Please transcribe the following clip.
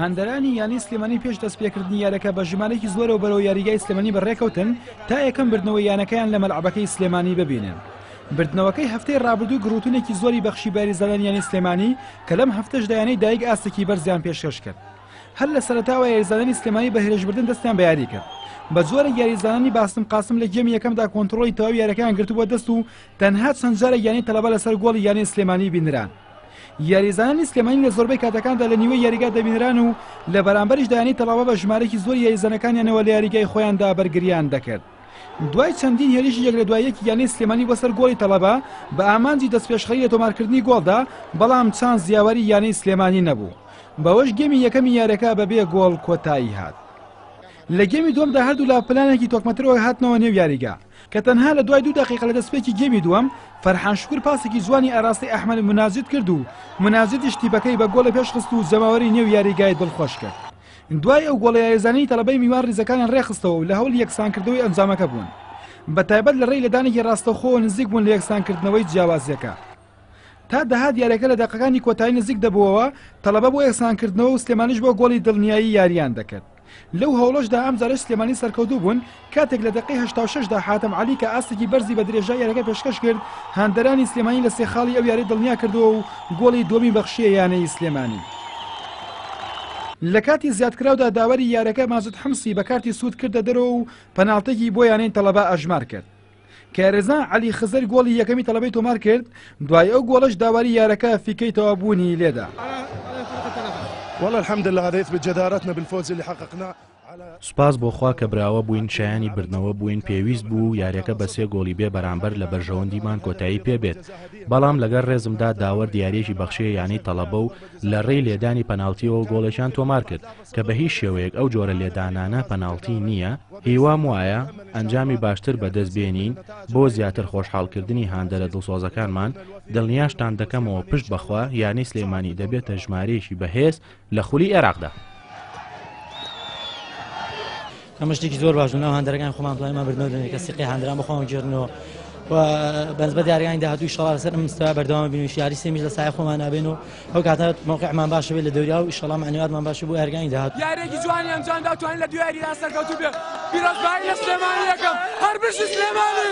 هاندەرانی یانەی سلێمانی پێش دەستپێکردنی یارەکە بە ژمارەێکی زۆرەوە بەرەوە یاریگای سلێمانی بەڕێکەوتن تا یەکەم بردنەوە یانەکەیان لە مەلعبەکەی سلێمانی ببینن. بردنەوەکەی هەفتەی ڕابردوو گروتونێکی زۆری بەخشی باریزانان یانی سلێمانی کە لەم هەفتەش دایانەی دایک ئاستێکی بەرزیان پێشکەش کرد. هەر لە سەرتاوە یاریزانانی سلێمانی بە هێرشبردن دەستیان بەیاری کرد بە جۆرە یاریزانانی باستم قاسم لە گێمی یەکەمدا کۆنتترۆلی تەواو یارەکەیان گرتبووە دەست و تەنها چەند جارە یانی تەلەبە لەسەر گۆڵی یانی سلێمانی بینران یاریزانانی سلێمانی لە زۆربەی کاتەکاندا لە نیوەی یاریگا دەبینران و لە بەرامبەریشدا یانەی تەڵاوە بە ژمارەیەکی زۆری یاریزانەکانیانەوە لە یاریگای خۆیاندا بەرگریان دەکرد. دوای چەندین هێرشی یەک لە دوای یەکی یانەی سلێمانی بۆ سەر گۆڵی تەڵەبە بە ئامانجی دەستپێشخەری لە تۆمارکردنی گۆڵدا، بەڵام چانس یاوەری یانەی سلێمانی نەبوو. بەوەش گێمی یەکەمی یاریەکە بەبێ گۆڵ کۆتایی هات. لە گێمی دووەمدا هەردوولا پلانێکی تۆکمەترەوە هاتنەوە نێو یاریگا. کە تەنها لە دوای دوو دەقیقە لە دەستپێکی گێمی دووەم، فەرحان شوکور پاسێکی جوانی ئاراستەی ئەحمەد مناجد کرد و مناجدیش تیپەکەی بە گۆڵێ پێشخست و جەماوەری نێو یاریگای دڵخۆش کرد. دوای ئەو گۆڵە یاریزانانی تەڵەبەی میوان ریزەکانیان رێکخستەوە و لە هەوڵی یەکسانکردنەوەی ئەنجامەکە بوون. بە تایبەت لە رێی لێدانێکی راستەوخۆوە نزیک بوون لە یەکسانکردنەوەی جیاوازییەکە. تا دەهات یاریەکە لە دەقەکانی کۆتایی نزیک دەبووەوە تەڵەبە بۆ یەکسانکردنەوە و سلێمانیش بۆ گۆڵی دڵنیایی یاریان دەکرد لەو هەوڵەشدا ئەم جارش سلێمانی سەرکەوتوو بوون کاتێک لە دقی هشتاشدا حاتم علی کە ئاستێکی بەرزی بە درێژا یارەکە پێشکەش کرد هاندەرانی سلێمانی لە سێ خاڵی ئەو یاری دڵنیا کردەوە و گۆڵی دومی بەخشیە یانەی سلێمانی. لە کاتی زیادکراودا داوەری یارەکە مازود حمسی بە کارتی سوود کردە دەرەوە و پەناڵتێکی بۆ یانەی تەڵەبا ئەژمار کرد. کارەزا عەلی خزر گۆڵی یەکەمی تەڵەبەی تۆمار کرد دوای ئەو گۆڵەش داواری یارەکە فیکەی تەوابوونی لێدا. والله الحمد لله هذا يثبت جدارتنا بالفوز اللي حققناه سوپاس بۆ خوا کە براوە بووین شایانی بردنەوە بووین پێویست بوو و یاریەکە بە سێ گۆڵی بێ بەرامبەر لە بەرژەوەندیمان کۆتایی پێبێت بەڵام لەگەر ڕێزمدا داوەر دیارێکی بەخشێ یانەی تەڵەبە و لە ڕێی لێدانی پەناڵتیەوە گۆڵێکیان تۆمار کرد کە بە هیچ شێوەیەک ئەو جۆرە لێدانانە پەناڵتی نییە، هیوام وایە ئەنجامی باشتر بەدەست بێنین بۆ زیاتر خۆشحاڵکردنی هاندەرە دڵسۆزەکانمان، دڵنیاشتان دەکەمەوە پشت بەخوا یانەی سلێمانی دەبێتە ژمارەیەکی بەهێز لە خولی عێراقدا. ئەمە شتێکی زۆر باش ناو هەندەرەکان خۆمان پلانمان بردنەوە دەنێکە سیقی هەندران بە خۆمان گێرنەوە و بەنسبەت یاریانی داهاتوو شڵا لەسەر ئەم مستەوە بەردەوام بین و یاری سێمیش لە سایە خۆمان نابێن و ئەو کاتە مەوقعمان باشە بێت لە دەوریا و ئیشەڵا معنویاتمان باشە بۆ یارگانی داهاتوو یارێکی جوانی ئەنجام دا توانین لە دوو یاریدا سەرکەوتوو بێت پیرۆزبایی لە سلێمانی یەکەم هەر بژی سلێمانی